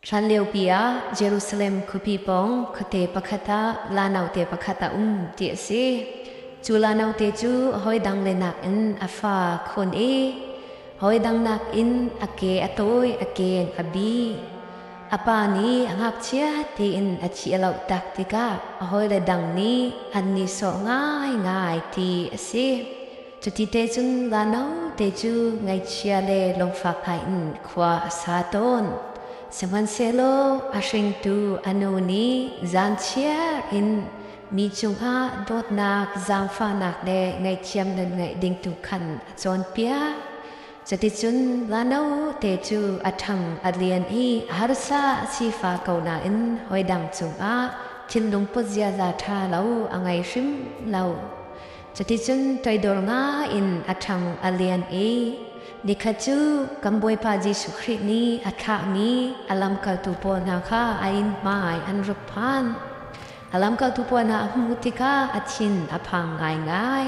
Hlan liopi ah Jerusalem khuapi pawng khuate pakhat ah la naute pakhat a um ti a si. Cu la naute cu hawi dang le nakin a fa khon i hawi dang nakin a ke a tawi, a ken a bi. A pa nih a ngakchia tiin a thi a loh tak tikah a hawile dang nih an ni sawh ngaingai ti a si. Cuti te cun Lano te cu ngaihchia le lungfak ngaiin khua a sa tawn. Sihmanhsehlaw a hringtu a nu nih zaanchiar in mi cungah dawtnak, zaangfahnak le ngaihthiam nan ngeih ding tu khan a cawnpiak. Cuticun Lano te cu a ṭhang a lian i a harsa a sifa ko nain hoi dang cungah thinlung put ziaza ṭha lo a ngei hrim lo. Cuticun toidor ngaiin a ṭhang a lian i nikhat cu kan Bawipa Jesuh Khrih nih a thlahmi a lamkaltu pawl hna kha a inn hmai an ruk phan. A lamkaltu pawl hna a hmuh tikah a thin a phang ngaingai,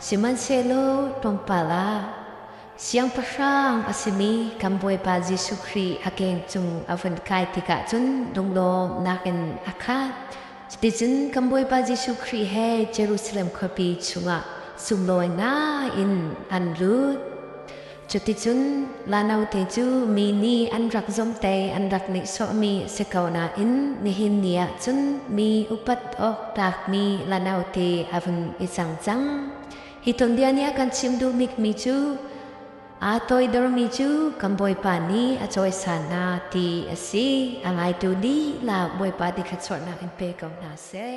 sihmanhsehlaw tlawmpal ah Siangpahrang a simi kan Bawipa Jesuh Khrih a keng cung a vun kai tikah cun lunglawm nakin a khat. Cuticun kan Bawipa Jesuh Khrih he Jerusalem khuapi chungah sunglawi ngaiin an lut. Cuticun la note cu mi nih an rak zomte an rak nihsawhmi a si ko nain nihin ni ah cun mi upat awk tlakmi la note a vun i cang cang. Hi tuanbia nih a kan chim duhbikmi cu Aa toidormi cu kan Bawipa nih a cawisan hna ti a si. A ngaitu dihlak Bawipa ti thluachuahnak in pe ko hna seh.